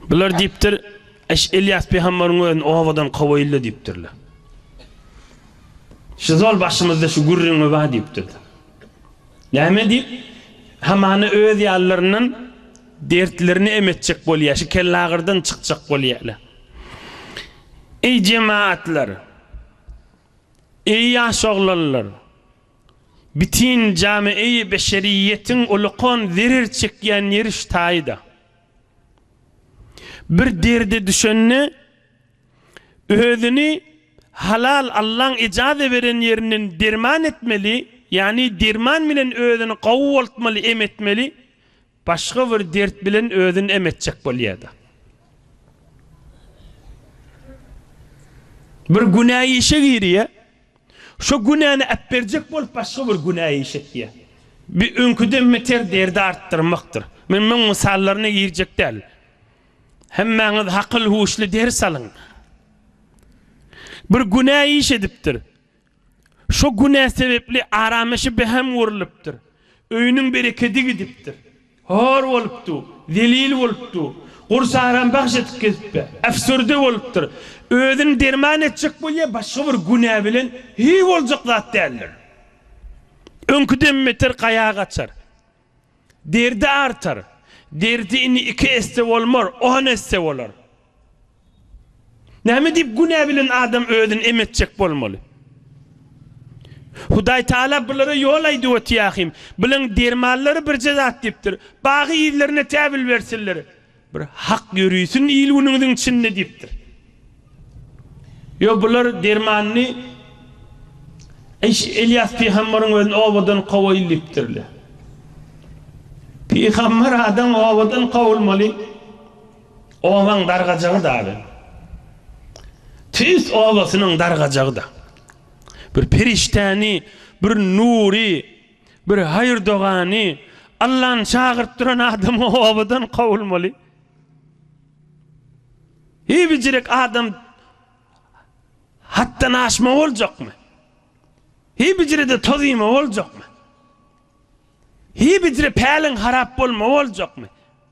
Bular diýipdir, Eş, Ylýas pygamberyň özüni obadan kowaýyl-da diýipdirler. Şu zol başymyzda şu gürrüň mi bar diýipdirler. Näme diýip, hamana öz ýalylaryndan dertlerini em etjek bolýar, şu kellagyrdan çykjak bolýarlar. Eý, jemagatlar! Eý, ýaş oglanlar! Bitin jamiýi beşeriýetiň ulykan zerer çekýän ýeri şu taýda. Bir derde düşende özüni halal Allaň ejaze beren ýerinden derman etmeli, ýagny derman bilen özüni gawy boltmaly, em etmeli, başga bir dert bilen özüni em etjek bolýada. Bir günä işe girýä, Şo günäni äpberjek bolup başga bir günä iş etýär. Bi öňküden beter derdi artdyrmakdyr. Men muň mysallaryna girjek däl. Hemmäňiz hakyl-huşly ders alyň. Bir günä iş edipdir. Şo günä sebepli aramaşy beham gurlupdyr. Öýüniň berekedi gidipdir. Hor bolupdy, zelil bolupdy, gursaram bagş edip gezipdi. Äfsürde bolupdyr. Özüni derman etjek bolýar, başga bir günä bilen, hiý, boljak zat däldir. Öňküden beter gaýa gaçar. Derdi artar. Derdi indi iki esse bolmar, on esse bolar. Näme diýip günä bilen adam özüni em etjek bolmaly? Hudaýtagala bulara ýol aýdyp otyahym, bulaň dermanlary birje zat diýipdir, Bagy ýzlaryna täbil bersinler, bir hak ýörisin il-günüňiziň içinde diýipdir. Ýo bular dermanyny Eýş Elýas pygambaryň özüni obadan kowaýyl diýipdirle. Pygambar adam obadan kowulmaly. Obaň dargajagy dagy, Tüýs obasynyň dargajagy-da. Bir perişdäni, bir nury, bir haýyr dogany Allany çagyryp duran adam obadan kowulmaly. Hiý bijirek adam hatdan aşma boljakmy? Hiý bijirede toz iýme boljakmy? Hiý bijire päliň harap bolma boljakmy?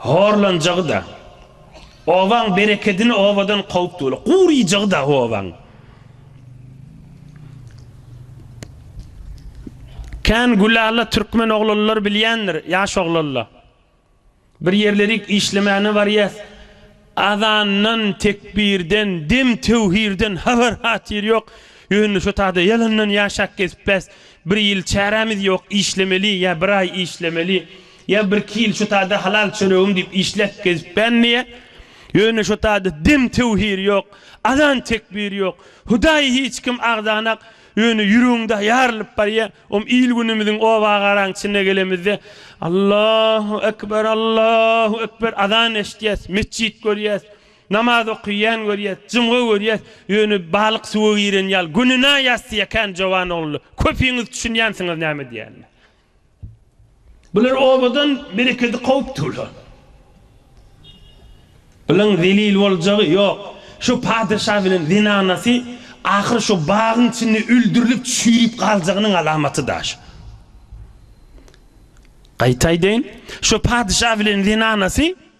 Horlanjagy-da, obaň berekedini obadan kowup doly gurýjagy-da obaň. Kän gülala türkmen oglanlar bilýändir, ýaş oglanla. Bir ýerlerik işlemäne barýas, Azandan, tekbirden, dem töwhirden habar-hatyr ýok. Ýöne şo taýda ýalandan ýaşap gezipbäs. Bir ýyl çärämiz ýok, işlemeli, ýa bir aý işlemeli, ýa birki ýyl şo taýda halal çöregim diýip işläp gezipbän diýýä. Ýöne şo taýda dem töwhir ýok, azan-tekbir ýok. Hudaýy hiç kim agzanak, Ýöne ýüregiňde ýarylyp barýa, om il-günümiziň oba-agaraň içine gelemizde, Allahu ekber, Allahu ekber, azan eşitýäs, metjit görýäs, namaz okyýan görýäs, jumga görýäs, ýöne balyk suwa giren ýaly, gününa ýassy ýakan jowan oglanlar, köpiňiz düşünýänsiňiz näme diýenime. Bular obadan berekedi kowup durlar. Bularyň zelil boljagy ýok. Şu patyşa bilen zenanasy ahyr şu bagyň içinde öldürilip çüýrüp galjagynyň alamaty daş. Gaýtaýdaýyn, şu patyşa bilen zenanasy.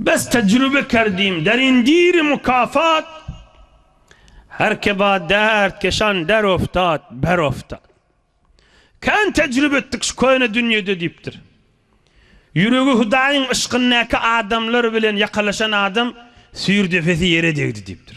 Biz tejrübe kerdim derindiri mukafat Her ke ba dert keşan der oftad, ber oftad Kän tejrübe etdik şu köne dünýede diýipdir. Ýüregi Hudaýyň yşkyndaky adamlar bilen ýakalaşan adam süýr depesi ýere degdi diýipdir.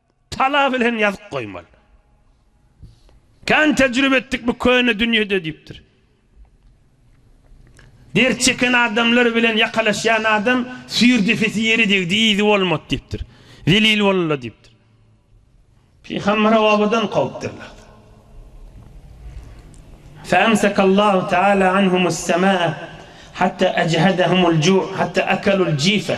Tala bilen ýazyp goýmaly. Kän tejribe etdik bu köne dünýede diýipdir. Dert çeken adamlar bilen ýakalaşýan adam süýr depesi ýere degdi, yzy bolmady diýipdir. Zelil bolunla diýipdir. Pygamberi obadan kowupdyrlar. Feemsekallahu taala anhumu's-semaa hatta ejhadahumul-ju' hatta akalul-jifa.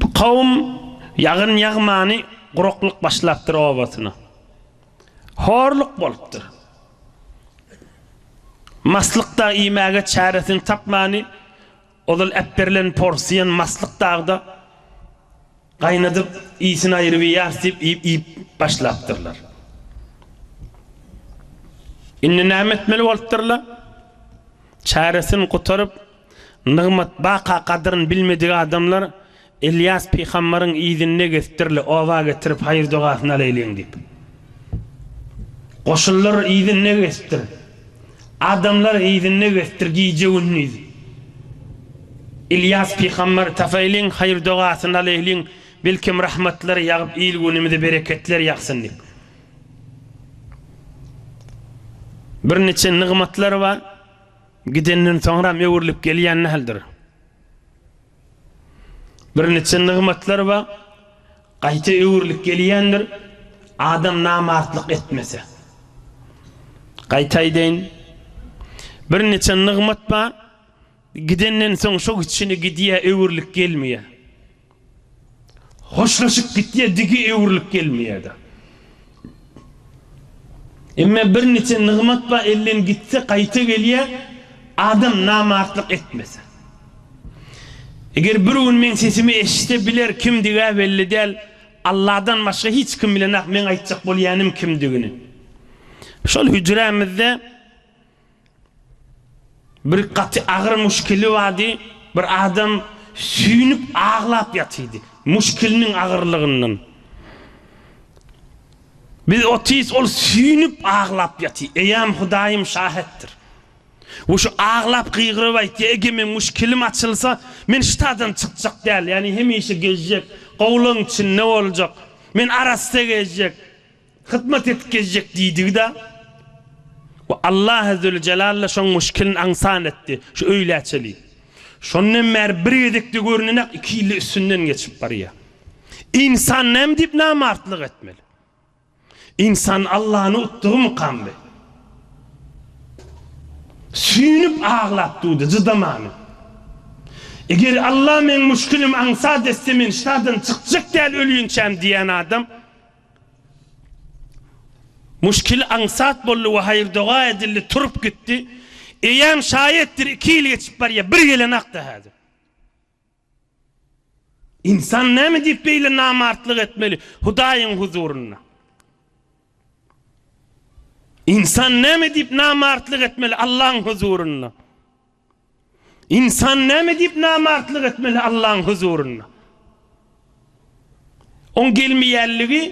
Bu kowum ýagyn ýagmany guraklyk başlapdyr obasyna. Horluk bolupdyr. Maslyk dag iýmäge çäresini tapmany ozal äpberilen porsiýan maslyk dagda gaýnadyp iýsin aýryp iýýäris diýip iýip başlapdyrlar. Indi näme etmeli bolupdyrlar? Çäresin gutaryp, nygmat baka gadyryn bilmedik adamlar Ylýas pygambaryň yzynda geztdirli, oba getirip haýyr-dogasyny alaýlyň diýip. Goşunlar yzynda geztdir, adamlar yzynda geztdir gije-gündiz Ylýas pygambary tapaýlyň, haýyr-dogasyny alaýlyň, belkem rahmatlar ýagyp il-günümize bereketler ýagsyn diýip. Bir niçe nygmatlar bar, gidenden soňram öwrülip gelýän däldir. Bir niçe nygmatlar bar, gaýta öwrülip gelýändir, adam namartlyk etmese. Gaýta aýdaýyn, bir niçe nygmat bar, Gidenden soň şo gitşine gidýä öwrülip gelmeýä. Hoşlaşyp gitýä digi öwrülip gelmeýäda. Emme bir niçe nygmat ba elden gitse gaýta gelýä adam namartlyk etmese. Eger bir gün meň sesimi eşitse biler kimdigä belli däl Alladan başga hiç kim bilenak meň aýtjak bolýanym kimdigini. Şol hüjrämizde. Bir gaty agyr muşkili bardy. Bir adam süýnüp aglap ýatyrdy. Muşkiliniň agyrlygyndan. Biz otyrys ol süýnüp aglap ýatyr. Eýäm Hudaýym şahetdir. We şu aglap gygyryp aýtýar, Eger meň muşkilim açylsa, men ştadan çykjak däl, ýagny hemişe gezjek, gowulygyň içinde boljak. Men arassa gezjek. hyzmat edip gezjek diýdigi-de we Allah Azzeweljelalla şoň muşkilini aňsat etdi, şu öýlä çeli. Şondan bäri bir gezek-de görnenak iki ýyl-da üstünden geçip barýar. Ynsan näme diýip namartlyk etmeli? Ynsan Allany utdugymykam bi? Süýnüp aglap durdy, cydamany. Eger Allah meň muşkilimi aňsat etse men şadan çykjak däl ölýänçäm diýen adam, Muşkil aňsat boldy we haýyr-doga edildi, turup gitdi. Eýýäm şaýatdyr iki ýyl geçip barýar, bir gelenakdy häzir. Ynsan näme diýip beýle namartlyk etmeli Hudaýyň huzurynda? Ynsan näme diýip namartlyk etmeli Allaň huzurynda? Ynsan näme diýip namartlyk etmeli Allaň huzurynda? Oň gelmeýänligi,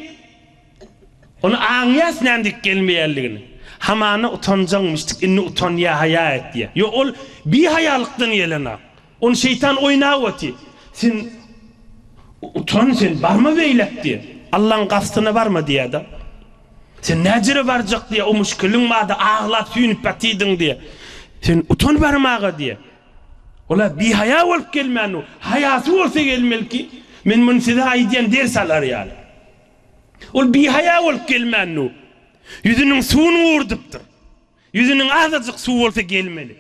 ony aňýas nädip gelmeýänligini. Hamana utanjaňmyşdyk, indi utanýa, haýa etýä. Ýok, ol bihaýalykdan gelen-a. Ony şeýtan oýnap oty. Sen utan sen, barma beýläk diýä. Allaň gastyna barma diýä-de. Sen näjere barjak diýýä, o muşkiliň bardy, aglap süýnüp ýatydyň diýýä. Sen utan barmaga diýýä. Ol-a bihaýa bolup gelmäni, haýasy bolsa gelmeliki. Men muny size aýdýan ders alar ýaly. Ol bihaýa bolup gelmäni, ýüzüniň suwuny gurdypdyr. Ýüzüniň azajyk suw bolsa gelmeli.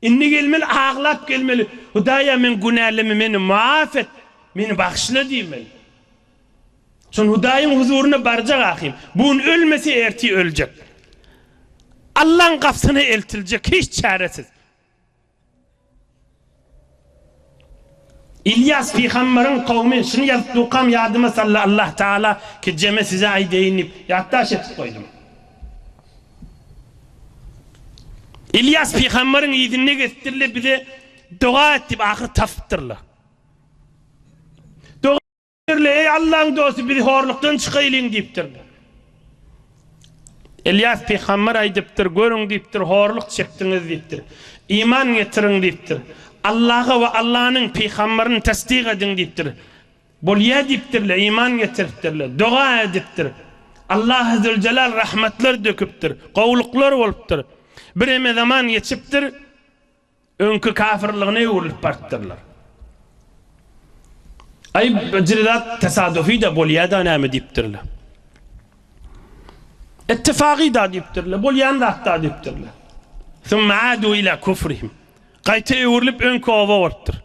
Indi gelmeli, aglap gelmeli, Hudaýa men günälimi, meni maaf et, meni bagyşla diýmeli. Şonda Hudaýyň huzuryna barjak ahim, bu gün ölmese ertir öljek. Allaň gapysyna eltiljek hiç çäresiz. Ylýas pygambaryň kowmy şuny ýazyp durkam ýadyma saldy Allah Taala kejeme size aýdaýyn diýip ýatdaş edip goýdum. Ylýas pygambaryň yzynda gezipdirler bize doga et diýip ahyry tapypdyrlar. Birle, Eý, Allaň dosty, biz horlukdan çykaýlyň diýipdirler. Ylýas pygamber aýdypdyr, Görüň diýipdir, horluk çekdiňiz diýipdir. Iman getiriň diýipdir. Allaha we Allanyň pygamberini tassyk ediň diýipdir. Bolýar diýipdirler, iman getiripdirler. Doga edipdir. Allaha züljelal rahmetler döküpdir. Gowluklar bolupdyr. Bireme zaman geçipdir. Öňki kafirligine öwrülip barpdyrlar. Aý, bir zat tesadufy-da bolýa-da näme diýipdirler. Ittifagy-da diýipdirler, bolýan zat-da diýipdirler. Summa adu ila kufrihim. Gaýta öwrülip öňki oba bolupdyr.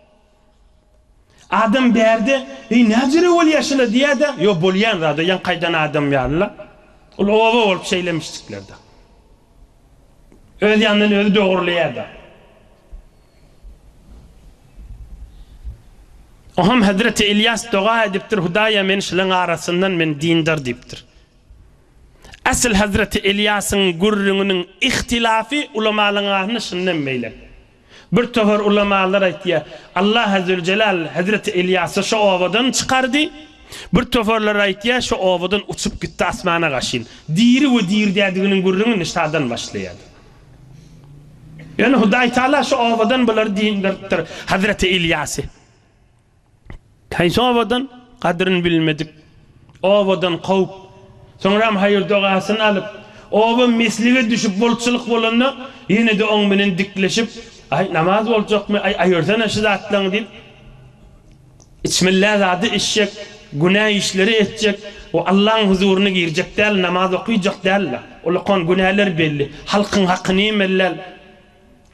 Adam bärde, Eý, näjere bolýar şular diýýär-de, Ýok, bolýan zad-a, ýaňkaýdan adam ýaly-la. Ol oba bolup şeýlemişjikler-de. Öz ýanyndan özi dogurlaýar-da. Oňam hezreti Ylýas doga edipdir, Hudaýa, men şularyň arasyndan, men dindar diýipdir. Asyl hezreti Ylýasyň gürrüňiniň ihtilafy ulamalaryň arasynda şundan meýle. Bir töhür ulamalar aýtýar, Allah Azzewjelal hezreti Ylýasy şo obadan çykardy, bir töhürler aýtýar, şo obadan uçup gitdi asmana gaşyn. Diri we dirdädiginiň gürrüňi Nisadan başlaýardy. Ýöne Hudaýtagala şo obadan bulary diňdiripdir, hezreti Ylýasy. Haýsy obadan gadryn bilmedik obadan kowup, soňram haýyr-dogasyny alyp, oba meslige düşüp bolçulyk bolanda ýene-de oň bilen dikleşip, Aý, namaz boljakmy, aý, aýyrsana şu zatlaňy diýip, içmellä zady içjek, günä işleri etjek we Allaň huzuryna girjek däl, namaz okyjak däl-la. Ulakan günäler belli. Halkyň hakyny ýemellal.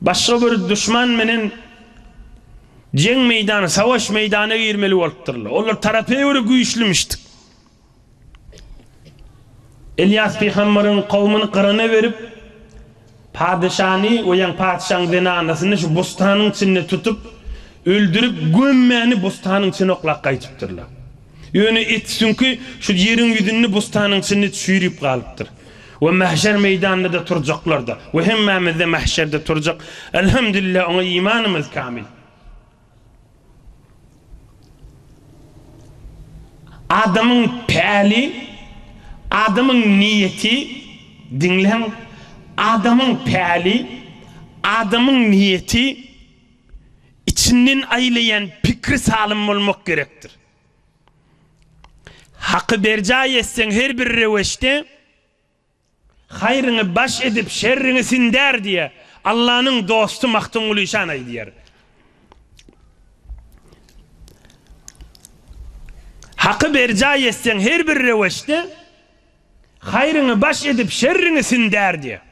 Başga bir duşman menen jeň meýdany, sawaş meýdana girmeli bolupdyrlar. Olar tarapa göre güýçlümişdik. Ylýas pygamberyň kowumyny gyrana berip, patyşany we ýa patyşaň zenanasyny şu bostanyň içinde tutup, öldürip, gömmäni bostanyň içine oklap gaýtypdyrlar. Ýöne et süňki şu ýeriň ýüzünde bostanyň içinde çüýrüp galypdyr. We mähşer meýdanynda-da turjaklar-da. We hemmämiz-de mähşerde turjak. Elhemdülillah, oňa imanymyz kamil. Adamyň päli, adamyň niýeti, diňläň, adamyň päli, adamyň niýeti, içinden aýlaýan pikri salym bolmak gerekdir. Haky berjaý etseň her bir reweçde, haýryňy baş edip, şerriňi sindär diýýär. Allanyň dosty Magtymguly şan aýdýar. Haky berjaý etseň her bir reweçde, haýryňy baş edip, şerriňi sindär diýýär.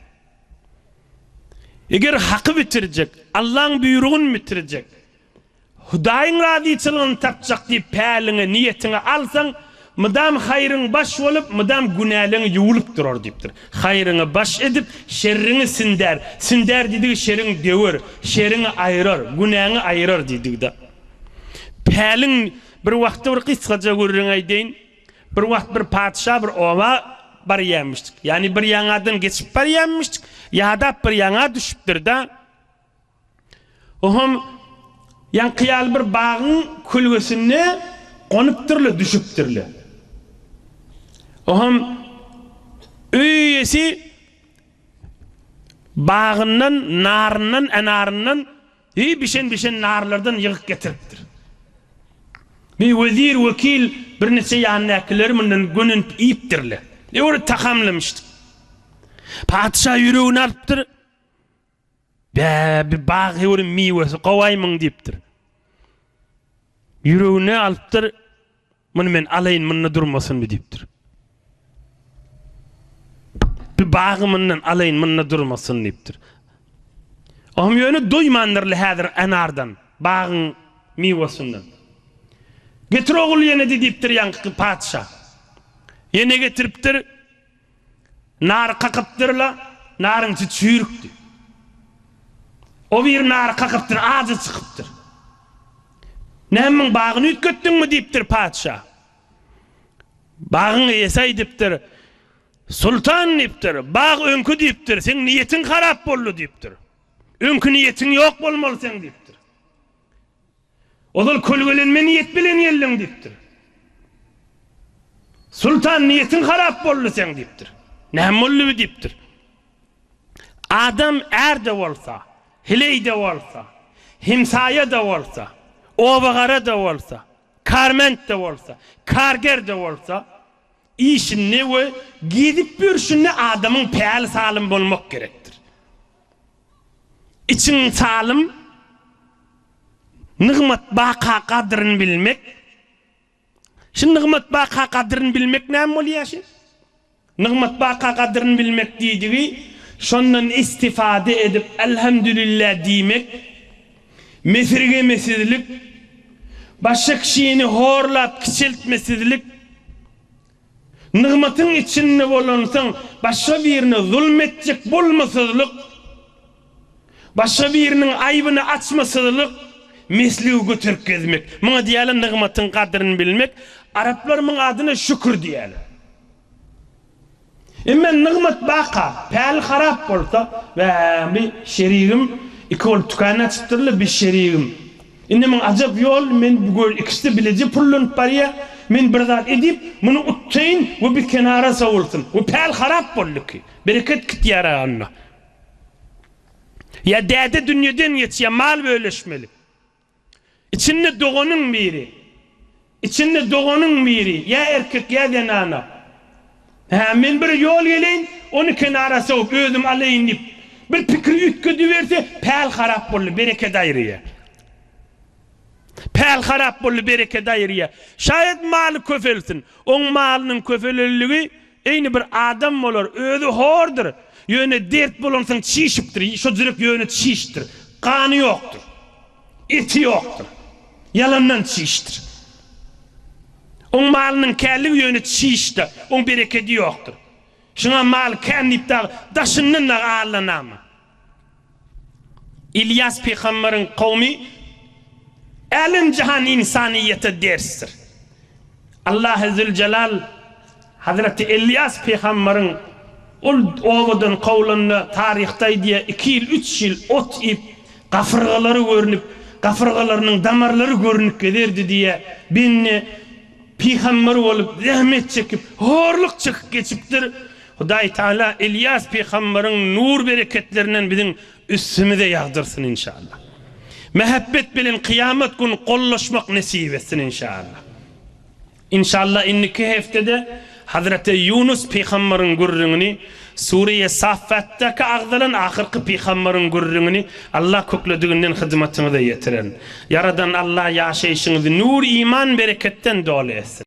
Eger haky bitirjek, Allaň buýrugyn bitirjek, Hudaýyň razyçylygyny tapjak diýip päliňe, niýetiňe, alsaň, mydam haýryň baş bolup, mydam günäleň ýuwlup durar diýipdir. Haýryňy baş edip, şerriňi sindär. Sindär diýdigi şeriňi döwer, şeriňi aýrar, günäňi aýrar diýdigi-dä. Päliň bir wagty bir gysgaja gürrüň aýdaýyn. Bir wagt bir patyşa bir oba barýarmyşdyk. Ýagny bir ýaňadan geçip barýarmyşdyk. Ýadap bir ýaňa düşüpdir-de. Oham ýaňky ýaly bir bagyň kölgesinde gonupdyr-la, düşüpdir-le. Oham öý eýesi bagyndan naryndan, enaryndan deý bişen-bişen narlardan ýygyk getiripdir. Deý wezir, wekil, birniçe ýanyndakylar mundan gönenip iýipdir-le. Ýöne tagamlaýmyşdyk. Patyşa ýüregini alypdyr. Bä, bir bag ýörün miwesi gowaýmyň diýipdir. Ýüregine alypdyr, Muny men alaýyn, munda durmasynmy diýipdir. Bir bagy mundan alaýyn, munda durmasyn diýipdir. Oňam ýöne doýmandyr-la häzir anardan, bagyň miwesinden. Getir ogul ýene-de diýipdir ýaňky patyşa. Ýene getiripdir. Nary kakypdyr-la, naryň içi çüýrükdi. O biri nary kakypdyr, ajy çykypdyr. Nämüň bagyny üýtgetdiňmi? diýipdir patyşa. Bagyň eýesi aýdypdyr. Soltan, diýipdir, bag öňki diýipdir, seň niýetiň harap boldy diýipdir. Öňki niýetiň ýok bolmaly seň diýipdir. Ozal kölgelenme niýet bilen geldiň diýipdir. Soltan niýetiň harap boldy seň diýipdir. Näme boldy bi diýipdir. Adam är-de bolsa, hileý-de bolsa, hemsaýa-da bolsa, oba-gara-da bolsa, karment-de bolsa, karger-de bolsa, işinde we gezip ýörşünde adamyň päli salym bolmak gerekdir. Içiň salym, Nygmat baka gadryn bilmek Şi nygmat baka gadryn bilmek näme bolýar şi? Nygmat baka gadryn bilmek diýdigi şondan istifade edip Elhamdülillah diýmek mesirgemesizlik başga kişini horlap kiçeltmesizlik Nygmatyň içinde bolansoň, başga birine zulum etjek bolmasyzlyk, başga biriniň aýbyny açmasyzlyk, mesligi göterip gezmek. Muňa diýýärler nygmatyň gadryny bilmek. Araplar muň adyna şükür diýýärler. Emma nygmat baka, päli harap bolsa, Bäh, bir şerigim iki bolup dükan açypdyr-la, bir şerigim Indi men ajap ýol, men bu göl ikisi bileje pullanyp barýa, men bir zat edip, muny utdaýyn we bir kenara sowulsyn. Bu päl harap boldy ki, bereket gitýär-ä onda. Ýa däde dünýeden geçýär, mal bölüşmeli. Içinde doganyň biri. Içinde doganyň biri, ýa erkek, ýa zenana. Hä, men bir ýol geleýin, ony kenara sowup, özüm alaýyn diýip, bir pikir üýtgediberse, päl harap boldy, bereket aýyrýar. Päl harap boldy, bereket aýyrýar. Şaýat maly köpelsin. Oň malynyň köpelendigi eýni bir adam bolar, özi hordur, ýöne dert bolansoň çişipdir, şo jürek ýöne çişdir, gany ýokdur. Eti ýokdur. Ýalandan çişdir. Oň malynyň källigi ýöne çişde, oň berekedi ýokdur. Şuňa mal kän diýip dagy daşyndan dagy allanama. Ylýas pygamberiň kowmy älem-jahan ynsanyýete dersdir. Allahy Züljelal. Hazreti Elýas pygambaryň ol obadan kowlanda taryhda aýdýar iki ýyl üç ýyl ot iýip gafyrgalary görnüp gafyrgalarynyň damarlary görnüp gezerdi diýýär bende pygambar bolup zähmet çekip horluk çekip geçipdir Hudaý Taala Elýas pygambaryň nur bereketlerinden biziň üstümize ýagdyrsyn inşallah mähebbet bilen kyýamat gün gollaşmak nesip etsin inşallah. Inşallah indiki heftede Hazreti Ýunus pygambaryň gürrüňini, Sureýe Saffat-daky agzalan ahyrky pygambaryň gürrüňini Allah köklediginden hyzmatyňyza ýetiren. Ýaradan Allah ýaşaýşyňyzy nur, iman, bereketden doly etsin.